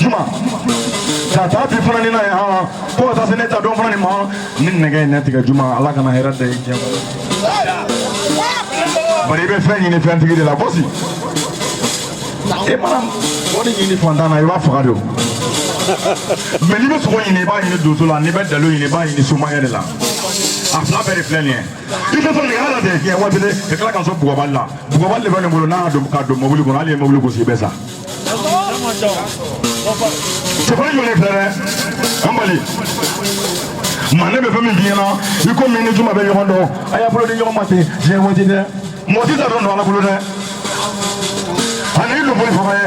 juma ka taa bi fana nin na yan fo ka taa se ne ta don fana nin ma ni nɛgɛ ye ne tigɛ juma ala kana hɛrɛ da i diɲɛ kɔnɔ bari i bɛ fɛn ɲini fɛntigi de la gosi e mana wari ɲini fantan na i b'a faga de o mɛ n'i bɛ sogo ɲini i b'a ɲini donso la n'i bɛ dalo ɲini i b'a ɲini somayɛ de la a fila bɛɛ de filɛ nin ye i tɛ sɔn nɛgɛ la de kɛ waati de ka tila ka sɔn bugɔbali la Bugɔbali de bɛ ne bolo n'a don ka don mobili kɔnɔ hali i ye mobili gosi i bɛ sa cɛfarin jɔlen filɛ dɛ an balima ne bɛ fɛn min f'i ɲɛna ikomi i ni juma bɛ ɲɔgɔn dɔn a y'a bolo di ɲɔgɔn ma ten diɲɛ waati dɛ mɔgɔ t'i taa don dɔn ala bolo dɛ ani i luboli faga ye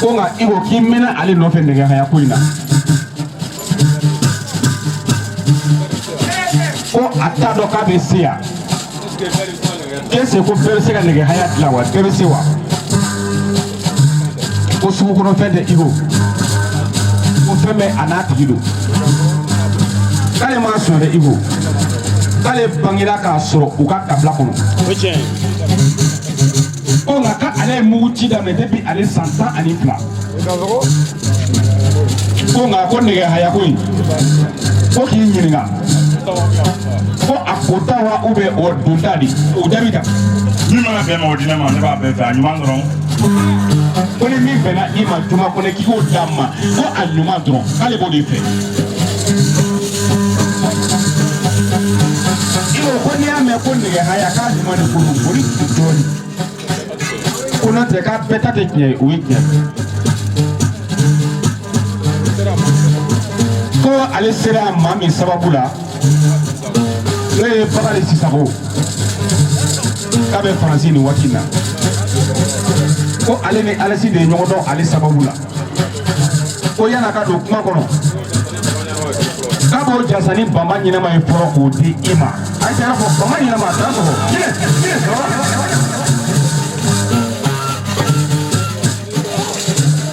ko nka i ko k'i mɛnna ale nɔfɛ nɛgɛ haya ko in na ko a t'a dɔn k'a bɛ se yan est-ce que ko bɛɛ bɛ se ka nɛgɛ haya dilan wa bɛɛ bɛ se wa ko sugu kɔnɔ fɛn tɛ iko ko fɛn bɛɛ a n'a tigi don k'ale m'a sɔn dɛ iko k'ale bangera k'a sɔrɔ u ka kabila kɔnɔ ko nka k'ale ye mugu ci daminɛ depuis ale san tan ani fila ko nka ko nɛgɛ haya ko in ko k'i ɲininka ko a kota wa ou bien o donta de o jaabi ta min mana bɛn i ma o di ne ma ne b'a bɛɛ fɛ a ɲuman dɔrɔn ko ni min bɛnna i ma juma kɔni k'i k'o d'a ma ko a ɲuman dɔrɔn k'ale b'o de fɛ Iko ko n'i y'a mɛn ko nɛgɛ haya k'a ɲuman de kuru o ni dugu dɔɔni. Ko n'o tɛ k'a bɛɛ ta tɛ tiɲɛ ye o ye tiɲɛ. Ko ale sera maa min sababu la n'o ye Bakari Sisako k'a bɛ Faransi nin waati in na. Ko ale ni Alesi de ye ɲɔgɔn dɔn ale sababu la. ko yan'a ka don kuma kɔnɔ k'a b'o jansa ni bama ɲɛnama ye fɔlɔ k'o di i ma a jara fɔ bama ɲɛnama a t'a sɔrɔ kile kile sɔrɔ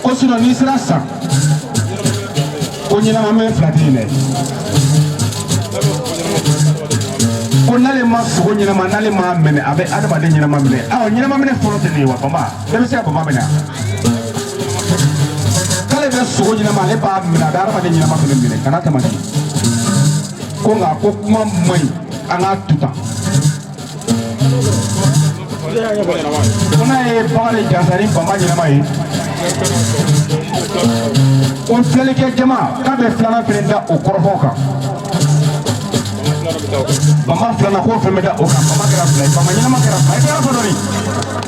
ko sinon n'i sera san ko ɲɛnama minɛ fila tɛ yen dɛ ko n'ale ma sogo ɲɛnama n'ale ma minɛ a bɛ adamaden ɲɛnama minɛ awɔ ɲɛnama minɛ fɔlɔ tɛ nin ye wa bama denmisɛn bama bɛ na k'ale bɛ sogo ɲɛnama ale b'a minɛ a bɛ adamaden ɲɛnama fana minɛ ka n'a tɛmɛ ko nka ko kuma man ɲi an k'a to tan ko n'a ye bagan de jansa ni bama ɲɛnama ye o filɛlikɛ jama k'a bɛ filanan fana da o kɔrɔfɔ kan bama filanan k'o fana bɛ da o kan bama kɛra fila ye bama ɲɛnama kɛra fila ye kɛra fɔ dɔɔni